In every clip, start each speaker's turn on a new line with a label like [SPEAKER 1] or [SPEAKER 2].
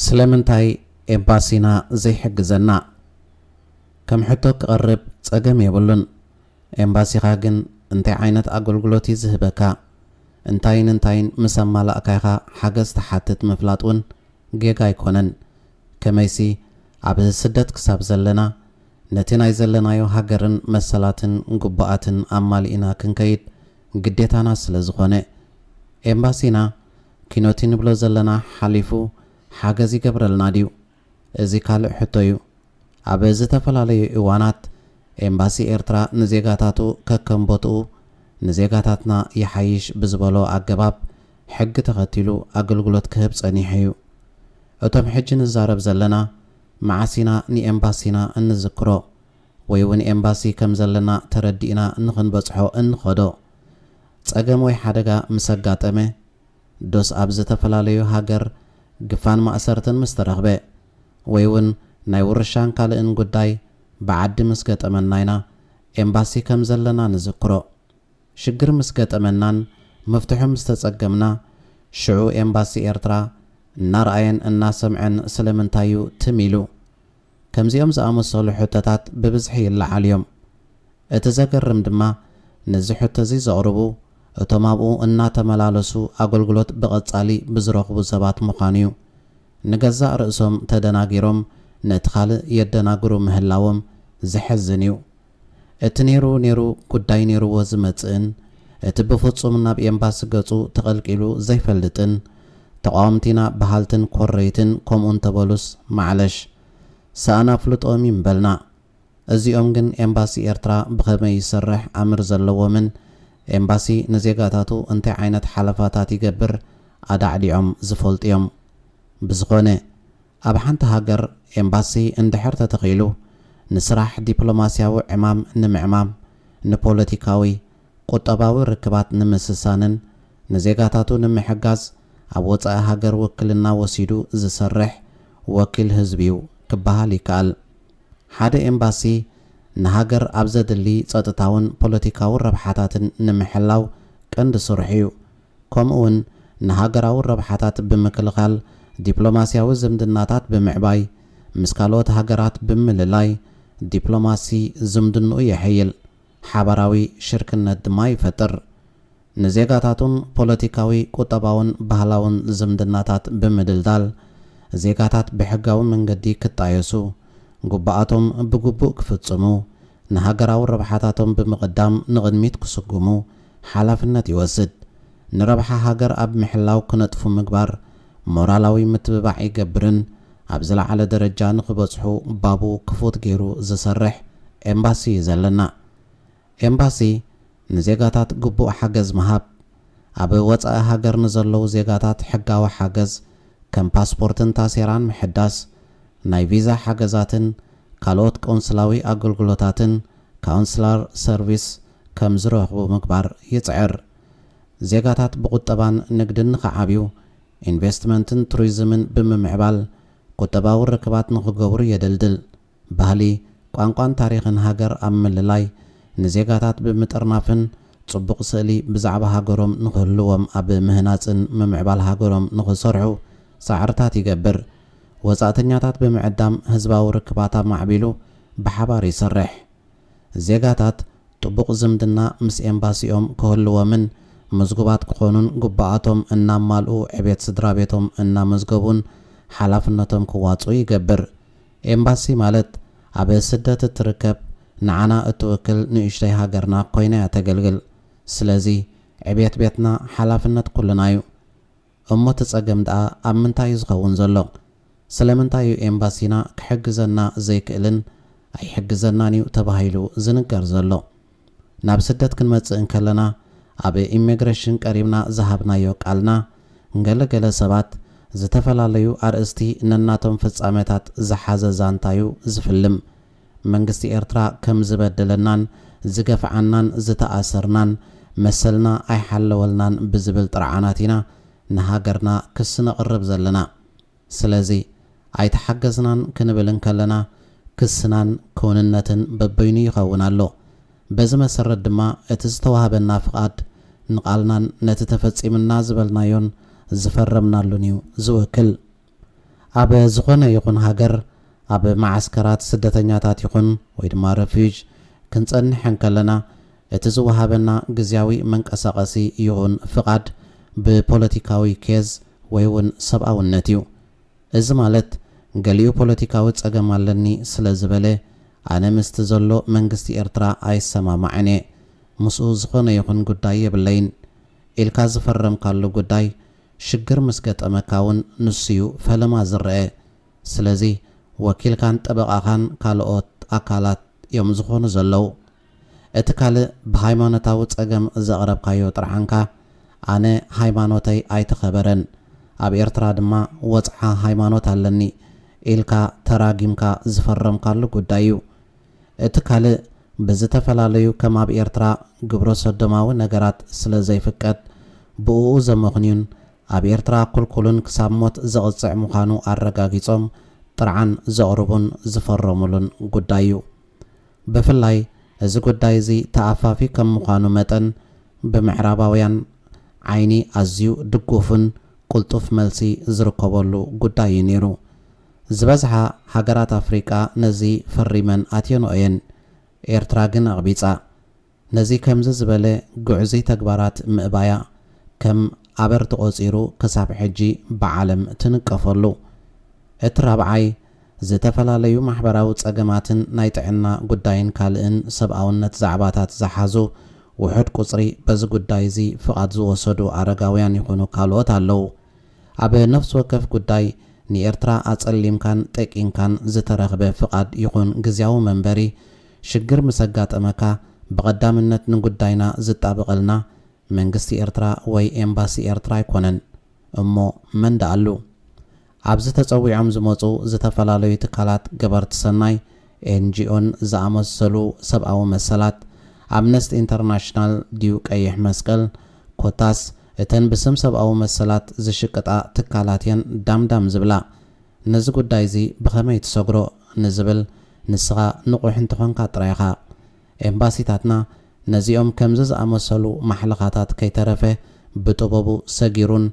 [SPEAKER 1] ስለምንታይ ኤምባሲና ዘይሕግዘና ከም ሕቶ ክቐርብ ጸገም የብሉን። ኤምባሲኻ ግን እንታይ ዓይነት ኣገልግሎት እዩ ዝህበካ? እንታይን እንታይን ምስ ኣማላእካ ኢኻ ሓገዝ ትሓትት ምፍላጥ ውን ጌጋ ኣይኮነን። ከመይሲ ኣብ ስደት ክሳብ ዘለና ነቲ ናይ ዘለናዮ ሃገርን መሰላትን ግቡኣትን ኣማሊእና ክንከይድ ግዴታና ስለዝኾነ። ኤምባሲና ኪኖቲ ንብሎ ዘለና ሓሊፉ ሓገዝ ይገብረልና ድዩ? እዚ ካልእ ሕቶ እዩ። ኣብ ዝተፈላለዩ እዋናት ኤምባሲ ኤርትራ ንዜጋታቱ ከከም ቦትኡ ንዜጋታትና ይሓይሽ ብዝበሎ ኣገባብ ሕጊ ተኸቲሉ ኣገልግሎት ክህብ ጸኒሑ እዩ። እቶም ሕጂ ንዛረብ ዘለና መዓስ ኢና ንኤምባሲና እንዝክሮ ወይ'ውን ኤምባሲ ከም ዘለና ተረዲእና ንኽንበጽሖ እንኸዶ? ጸገም ወይ ሓደጋ ምስ ኣጋጠመ ዶስ ኣብ ዝተፈላለዩ ሃገር ግፋን ማእሰርትን ምስ ተረኽበ ወይ ውን ናይ ውርሻን ካልእን ጉዳይ ብዓዲ ምስ ገጠመና ኢና ኤምባሲ ከም ዘለና ንዝክሮ። ሽግር ምስ ገጠመናን ምፍትሑ ምስ ተጸገምና ሽዑ ኤምባሲ ኤርትራ እናርኣየን እናሰምዐን ስለምንታይ ዩ ትም ኢሉ? ከምዚኦም ዝኣመሰሉ ሕቶታት ብብዝሒ ይለዓሉ እዮም። እቲ ዘገርም ድማ ነዚ ሕቶ'ዚ ዘቕርቡ እቶም ኣብኡ እናተመላለሱ ኣገልግሎት ብቐጻሊ ብዝረኽቡ ሰባት ምዃኑ'ዩ። ንገዛእ ርእሶም ተደናጊሮም ነቲ ካልእ የደናግሩ ምህላዎም ዘሕዝን'ዩ። እቲ ነይሩ ነይሩ ጉዳይ ነይሩዎ ዝመጽእን እቲ ብፍጹም ናብ ኤምባሲ ገጹ ተቐልቂሉ ዘይፈልጥን ተቓወምቲ ኢና በሃልትን ኮረይትን ከምኡ እንተበሉስ ማዕለሽ ሰኣን ኣፍልጦኦም እዩ ምበልና። እዚኦም ግን ኤምባሲ ኤርትራ ብኸመይ ይሰርሕ ኣምር ዘለዎምን ኤምባሲ ንዜጋታቱ እንታይ ዓይነት ሓለፋታት ይገብር ኣዳዕዲዖም ዝፈልጡ እዮም። ብዝኾነ። ኣብ ሓንቲ ሃገር ኤምባሲ እንድሕር ተተኺሉ ንስራሕ ዲፕሎማስያዊ ዕማም ንምዕማም፣ ንፖለቲካዊ፣ ቁጠባዊ ርክባት ንምስሳንን ንዜጋታቱ ንምሕጋዝ ኣብ ወጻኢ ሃገር ውክልና ወሲዱ ዝሰርሕ ወኪል ህዝቢ'ዩ ክበሃል ይከኣል። ሓደ ኤምባሲ ንሃገር ኣብ ዘድሊ ጸጥታውን ፖለቲካዊ ረብሓታትን ንምሕላው ቀንዲ ስርሑ'ዩ። ከምኡ'ውን ንሃገራዊ ረብሓታት ብምክልኻል፣ ዲፕሎማስያዊ ዝምድናታት ብምዕባይ፣ ምስ ካልኦት ሃገራት ብምልላይ፣ ዲፕሎማሲ ዝምድንኡ የሐይል፣ ሓባራዊ ሽርክነት ድማ ይፈጥር። ንዜጋታቱን ፖለቲካዊ፣ ቁጠባውን ባህላውን ዝምድናታት ብምድልዳል፣ ዜጋታት ብሕጋዊ መንገዲ ክጣየሱ፣ ግቡኣቶም ብግቡእ ክፍጽሙ፣ ንሃገራዊ ረብሓታቶም ብምቕዳም ንቕድሚት ክስጉሙ ሓላፍነት ይወስድ። ንረብሓ ሃገር ኣብ ምሕላው ክነጥፉ ምግባር ሞራላዊ ምትብባዕ ይገብርን ኣብ ዝለዓለ ደረጃ ንኽበጽሑ ባቡ ክፉት ገይሩ ዝሰርሕ ኤምባሲ እዩ ዘለና። ኤምባሲ ንዜጋታት ግቡእ ሓገዝ ምሃብ፣ ኣብ ወጻኢ ሃገር ንዘለዉ ዜጋታት ሕጋዊ ሓገዝ ከም ፓስፖርትን ታሴራን ምሕዳስ፣ ናይ ቪዛ ሓገዛትን ካልኦት ቆንስላዊ ኣገልግሎታትን፣ Consular Service፣ ከም ዝረኽቡ ምግባር ይጽዕር። ዜጋታት ብቑጠባን ንግድን ንኽዓብዩ፣ ኢንቨስትመንትን ቱሪዝምን ብምምዕባል ቁጠባዊ ርክባት ንኽገብሩ የደልድል። ባህሊ፣ ቋንቋን ታሪኽን ሃገር ኣብ ምልላይ፣ ንዜጋታት ብምጥርናፍን ጽቡቕ ስእሊ ብዛዕባ ሃገሮም ንኽህልዎም ኣብ ምህናጽን ምምዕባል ሃገሮም ንኽሰርሑ ጻዕርታት ይገብር። ወጻእተኛታት ብምዕዳም ህዝባዊ ርክባት ኣማዕቢሉ ብሓባር ይሰርሕ። ዜጋታት ጥቡቕ ዝምድና ምስ ኤምባሲኦም ክህልዎምን ምዝጉባት ክኾኑን ጉቡኣቶም እናማልኡ ዕቤት ስድራቤቶም እናመዝገቡን ሓላፍነቶም ክዋፅኡ ይገብር። ኤምባሲ ማለት ኣብ ስደት እትርከብ ንዓና እትውክል ንእሽቶይ ሃገርና ኮይና እያ ተገልግል። ስለዚ ዕቤት ቤትና ሓላፍነት ኩልና እዩ። እሞ እቲ ጸገም ደኣ ኣብ ምንታይ እዩ ዝኸውን ዘሎ? ስለምንታይ እዩ ኤምባሲና ክሕግዘና ዘይክእልን ኣይሕግዘናን እዩ ተባሂሉ ዝንገር ዘሎ? ናብ ስደት ክንመጽእ እንከለና ኣብ ኢሜግረሽን ቀሪብና ዝሃብናዮ ቃልና ንገለ ገለ ሰባት ዝተፈላለዩ ኣርእስቲ ነናቶም ፍጻመታት ዝሓዘ ዛንታ እዩ ዝፍልም። መንግስቲ ኤርትራ ከም ዝበደለናን ዝገፍዓናን ዝተኣሰርናን መሰልና ኣይሓለወልናን ብዝብል ጥርዓናት ኢና ንሃገርና ክሲ ነቕርብ ዘለና። ስለዚ ኣይተሓገዝናን ክንብል እንከለና ክስናን ክውንነትን በበይኑ ይኸውን ኣሎ። በዚ መሰረት ድማ እቲ ዝተዋህበና ፍቓድ ንቓልናን ነቲ ተፈጺምና ዝበልናዮን ዝፈረምናሉን እዩ ዝውክል። ኣብ ዝኾነ ይኹን ሃገር ኣብ መዓስከራት ስደተኛታት ይኹን ወይ ድማ ረፍዩጅ ክንጸንሕ እንከለና እቲ ዝወሃበና ግዝያዊ መንቀሳቐሲ ይኹን ፍቓድ ብፖለቲካዊ ኬዝ ወይ ውን ሰብኣውነት እዩ። እዚ ማለት ገሊኡ ፖለቲካዊ ጸገም ኣለኒ ስለ ዝበለ ኣነ ምስቲ ዘሎ መንግስቲ ኤርትራ ኣይሰማማዕን እየ ምስኡ ዝኾነ ይኹን ጉዳይ የብለይን ኢልካ ዝፈረምካሉ ጉዳይ ሽግር ምስ ገጠመካ ውን ንሱዩ ፈለማ ዝረኤ ስለዚ ወኪልካን ጠበቓኻን ካልኦት ኣካላት ዮም ዝኾኑ ዘለዉ እቲ ካልእ ብሃይማኖታዊ ጸገም ዘቕረብካዮ ጥርዓንካ ኣነ ሃይማኖተይ ኣይተኸበረን ኣብ ኤርትራ ድማ ወጽዓ ሃይማኖት ኣለኒ ኢልካ ተራጊምካ ዝፈረምካሉ ጉዳይ ዩ እቲ ካልእ ብዝተፈላለዩ ከም ኣብ ኤርትራ ግብረሰዶማዊ ነገራት ስለ ዘይፍቀድ ብእኡ ዘመኽንዩን ኣብ ኤርትራ ኩልኩልን ክሳብ ሞት ዘቕጽዕ ምዃኑ ኣረጋጊጾም ጥርዓን ዘቕርቡን ዝፈረሙሉን ጉዳይ'ዩ። ብፍላይ እዚ ጉዳይ እዚ ተኣፋፊ ከም ምዃኑ መጠን ብምዕራባውያን ዓይኒ ኣዝዩ ድጉፍን ቅልጡፍ መልሲ ዝርከበሉ ጉዳይ'ዩ ነይሩ። ዝበዝሓ ሃገራት ኣፍሪቃ ነዚ ፈሪመን ኣትየንኦ እየን። ኤርትራ ግን ኣቕቢጻ። ነዚ ከምዚ ዝበለ ግዕዙይ ተግባራት ምእባያ ከም ኣበር ተቖጺሩ ክሳብ ሕጂ ብዓለም ትንቀፈሉ። እቲ ራብዓይ ዝተፈላለዩ ማሕበራዊ ጸገማትን ናይ ጥዕና ጉዳይን ካልእን ሰብኣውነት ዛዕባታት ዝሓዙ ውሑድ ቁጽሪ በዚ ጉዳይ እዚ ፍቓድ ዝወሰዱ ኣረጋውያን ይኹኑ ካልኦት ኣለዉ። ኣብ ነፍሲ ወከፍ ጉዳይ ንኤርትራ ኣጸሊምካን ጠቂንካን ዝተረኽበ ፍቓድ ይኹን ግዝያዊ መንበሪ፣ ሽግር ምስ ኣጋጠመካ ብቐዳምነት ንጉዳይና ዝጣበቐልና መንግስቲ ኤርትራ ወይ ኤምባሲ ኤርትራ ኣይኮነን። እሞ መን ደኣሉ? ኣብዚ ተጸዊዖም ዝመጹ ዝተፈላለዩ ትካላት ገበርቲ ሰናይ፣ ኤንጂኦን ዝኣመሰሉ ሰብኣዊ መሰላት፣ ኣምነስት ኢንተርናሽናል ድዩ ቀይሕ መስቀል፣ ኮታስ እተን ብስም ሰብኣዊ መሰላት ዝሽቅጣ ትካላት እየን ዳም ዳም ዝብላ። ነዚ ጉዳይ'ዚ ብኸመይ ትሰግሮ ንዝብል ንስኻ ንቑሕ እንተኾንካ ጥራይ ኢኻ። ኤምባሲታትና ነዚኦም ከምዚ ዝኣመሰሉ ማሕለኻታት ከይተረፈ ብጥበቡ ሰጊሩን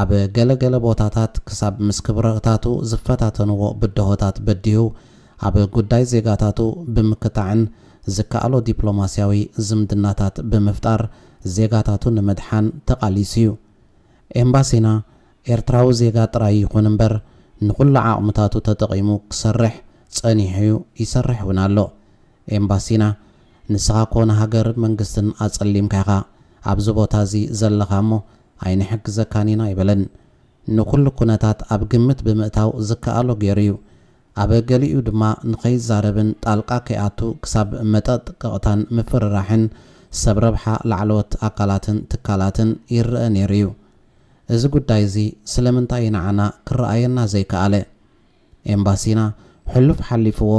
[SPEAKER 1] ኣብ ገለ ገለ ቦታታት ክሳብ ምስ ክብረታቱ ዝፈታተንዎ ብድሆታት በዲሁ ኣብ ጉዳይ ዜጋታቱ ብምክታዕን ዝከኣሎ ዲፕሎማስያዊ ዝምድናታት ብምፍጣር ዜጋታቱ ንምድሓን ተቓሊሱ እዩ። ኤምባሲና ኤርትራዊ ዜጋ ጥራይ ይኹን እምበር ንኹሉ ዓቕምታቱ ተጠቒሙ ክሰርሕ ጸኒሑ'ዩ ይሰርሕ'ውን ኣሎ። ኤምባሲና ንስኻ እኮ ንሃገር መንግስትን ኣጸሊምካ ኢኻ ኣብዚ ቦታ እዚ ዘለኻ እሞ ኣይንሕግዘካን ኢና ኣይበለን። ንኹሉ ኩነታት ኣብ ግምት ብምእታው ዝከኣሎ ገይሩ እዩ። ኣብ ገሊኡ ድማ ንኸይዛረብን ጣልቃ ከይኣቱ ክሳብ መጠጥቀቕታን ምፍርራሕን ሰብ ረብሓ ላዕለዎት ኣካላትን ትካላትን ይረኣ ነይሩ እዩ። እዚ ጉዳይ እዚ ስለምንታይ እዩ ንዓና ክረኣየና ዘይከኣለ? ኤምባሲና ሕሉፍ ሓሊፍዎ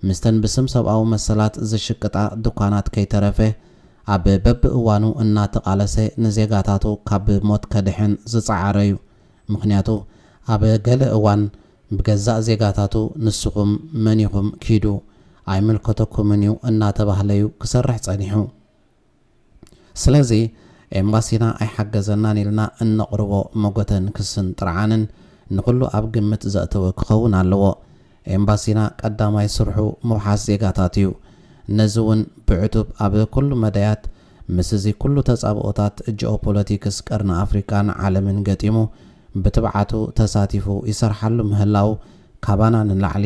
[SPEAKER 1] ምስተን ብስም ሰብኣዊ መሰላት ዝሽቅጣ ድኳናት ከይተረፈ ኣብ በብእዋኑ እናተቓለሰ ንዜጋታቱ ካብ ሞት ከድሕን ዝጸዓረ'ዩ። ምኽንያቱ ኣብ ገለ እዋን ብገዛእ ዜጋታቱ ንስኹም መን ኢኹም ኪዱ ኣይምልከተኩምን'ዩ እናተባህለ'ዩ ክሰርሕ ጸኒሑ። ስለዚ ኤምባሲና ኣይሓገዘናን ኢልና እነቕርቦ መጎተን ክስን ጥርዓንን ንኹሉ ኣብ ግምት ዘእተወ ክኸውን ኣለዎ። ኤምባሲና ቀዳማይ ስርሑ ምውሓስ ዜጋታት እዩ። ነዚ እውን ብዕቱብ ኣብ ኩሉ መዳያት ምስ እዚ ኩሉ ተጻብኦታት ጂኦፖለቲክስ ቀርኒ ኣፍሪቃን ዓለምን ገጢሙ ብትብዓቱ ተሳቲፉ ይሰርሓሉ ምህላው ካባና ንላዕሊ